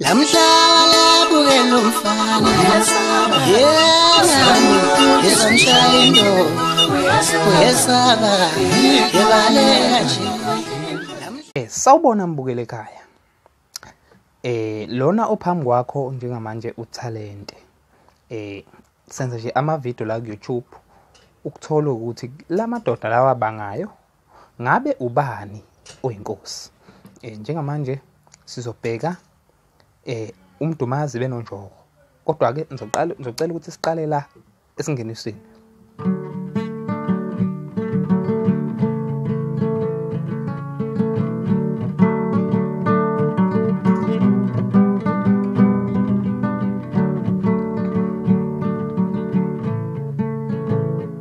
Lamhlala bukela umfana yena izomshaya into uyesaba yebaleka nje Eh sawubona mbukele ekhaya eh lona ophambi kwakho njengamanje utalente eh senza nje ama video la ku YouTube ukuthola ukuthi lamadoda lawa bangayo ngabe ubani oyinkosi eh njengamanje sizobheka eh umdumazi benonjoko kodwa ke ngizoqala ngizocela ukuthi siqale la esingenisweni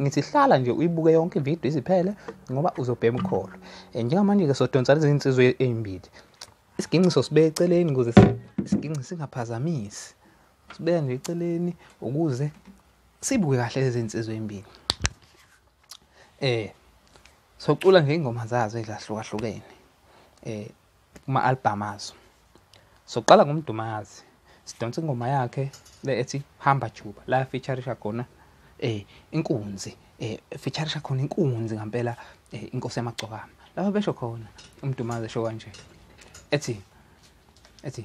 ngithi hlala nje uyibuke yonke ividiyo iziphele ngoba uzobhema ukholo um njengamanje-ke sodonsa lezi nsizwe ey'mbili isiginxiso sibe eceleni ukuze isiginxi singaphazamisi sibeka nje eceleni ukuze sibuke kahle lezi nsizwe ey'mbili um socula nje iy'ngoma zazo ezahlukahlukene um kuma-albhamu azo soqala ngomdumazi sidonsa ingoma yakhe le ethi hamba juba la featurisha khona eh inkunzi eh featurisha khona inkunzi ngampela eh, inkosi yamagcokama lapho besho khona umdumazi esho kanje ethi ethi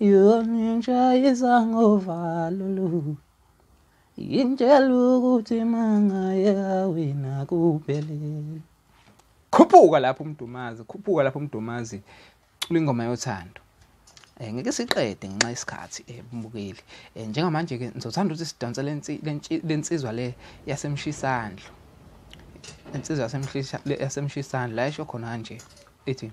yona intsha izangovalo lu yintshela ukuthi mangayeka wena kuphelele khuphuka lapho umdumazi khuphuka lapho umdumazi cula ingoma yothando um ngeke siqede ngenxa yesikhathi um eh, bumukeli um eh, njengamanje-ke ngizothanda ukuthi sidonse le nsizwa le yasemshisandlo insizwa yasemshisandlo la esho khona kanje ithi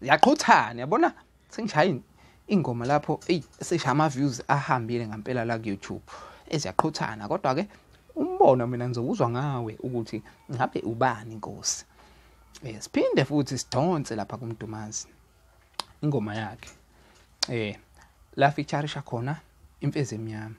yaqhuthana yabona sengishaya ingoma lapho eyi sesha ama views ahambile ngempela la ku YouTube eziyaqhuthana kodwa ke umbono mina ngizokuzwa ngawe ukuthi ngabe ubani inkosi eh siphinde futhi sidonse lapha kumdumazi ingoma yakhe eh la featureisha khona imfezi emnyama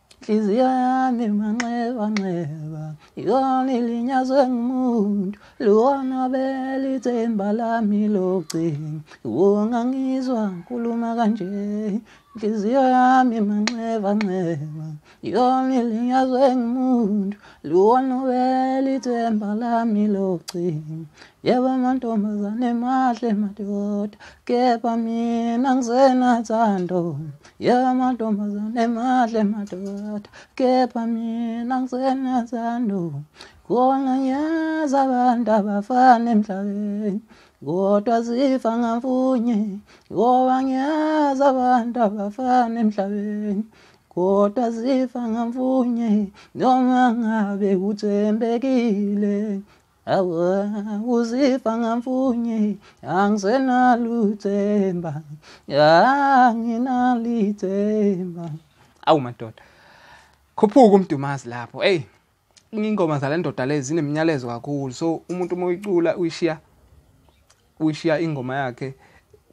Nhliziyo yami manxeba nxeba yona ilinyazwe ngumuntu lona belithemba lami locingo ungangizwa ngikhuluma kanje nhliziyo yami manxeba nxeba yona ilinyazwe ngumuntu lona belithemba lami locingo yebo amantombazane mahle madoda kepha mina ngisenathando ya mantombazane mahle madoda kepha mina ngisenazando khona ngiyazi abantu abafana emhlabeni kodwa zifa ngamfunye ngoba ngiyazi abantu abafana emhlabeni kodwa zifa ngamfunye noma ngabe kuthembekile Awa uzifa ngamfunye angisenaluthemba anginalithemba awu madoda khuphuka umdumazi lapho hey ingoma zale ndoda lezi zinemnyalezo kakhulu so umuntu uma uyicula uyishiya uyishiya ingoma yakhe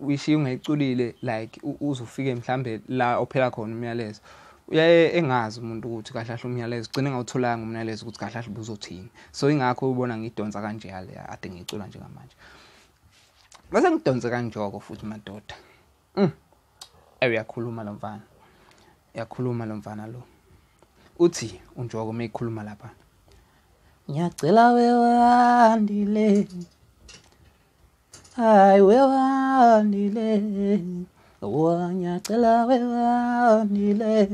uyishiya ungayiculile like uzofike mhlambe la ophela khona umyalezo uyaye engazi umuntu ukuthi kahle kahle umyalezo ugcine ngawutholanga umyalezo ukuthi kahle kahle buzothini so ingakho ubona ngidonsa kanje yale ade ngicula njengamanje bese ngidonse kanjoko futhi madoda Mm. Ewe uyakhuluma lo mfana. Uyakhuluma lo mfana lo. Uthi unjoko uma ikhuluma lapha. Ngiyacela wewandile. Hayi wewandile. Wa ngiyacela wewandile.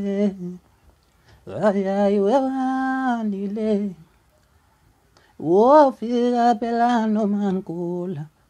Hayi hayi wewandile. Wofika phela noma ngigula.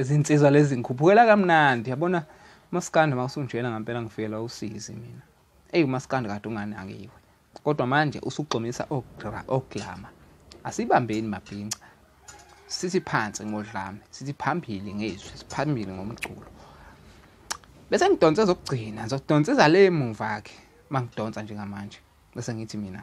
izinsizwa lezi ngikhuphukela kamnandi yabona maskandi mawusunjena ngempela ngifikelwa usizi mina eyi umaskandi kade unganakiwe kodwa manje usugxomisa oglama asibambeni mabhinca sithi phansi ngodlame sithi phambili ngezwi siphambili ngomculo bese ngidonse zokugcina ngizodonsa izale emuva ke mangidonsa njengamanje bese ngithi mina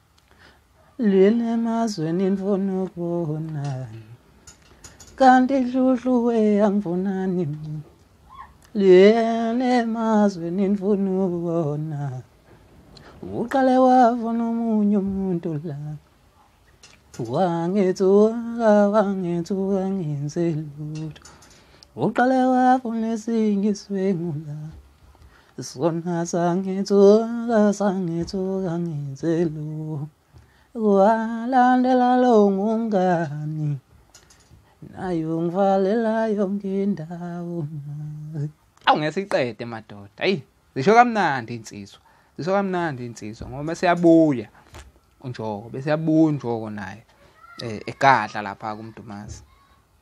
lwini emazweni ndifuna ukubonani kanti dludlu weyangibonani lwini emazweni ndifuna ukubona uqale wavona omunye umuntu la wangithi wangithi wangenze lutho uqale wavona esinye iswengu la Zona sangithuka sangithuka ngenzelu Walandela lo ngumngani Nayo ngivalela yonke indawo Awu ngeke iqede madoda ayi zisho kamnandi insizwa zisho kamnandi insizwa ngoba siyabuya unjoko bese yabuya unjoko naye eh, egadla lapha kuMdumazi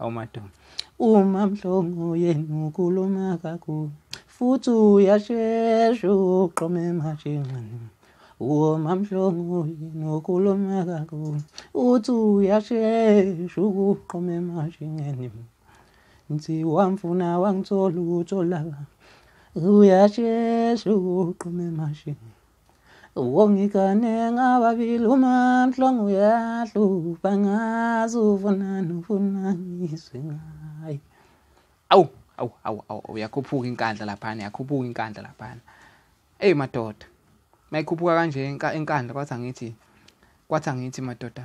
awumadoma uma mhlongo yenu ukhuluma kakhulu futhi uyashesha uqome emashinqini uma mhlongo yenu ukhuluma kakhulu uthi uyashesha ukuqome emashinqini ngithi wamfuna wangithola ukutholaka uyashesha ukuqome emashinqini Wongigane ngababili uma mhlongo uyahlupha ngazi ufunani ufuna ngizwe ngaye. Awu awu awu awu uyakhuphuka inkandla laphana yakhuphuka inkandla laphana. Ey madoda. Mayikhuphuka kanje inkandla kwathi angithi kwathi angithi madoda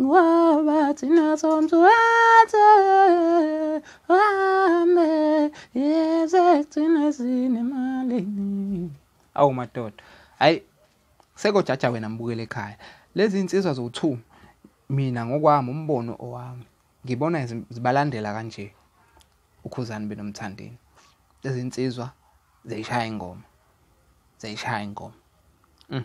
Ngoba thina somthwathe wame yeze thina sinemalini. Awu madoda. Hayi sekojaja wena mbukele ekhaya. Lezi insizwa zowu2 mina ngokwami umbono owami ngibona zibalandela kanje ukhuzani benomthandeni. Lezi insizwa ziyishaya ingoma. Ziyishaya ingoma. Mm.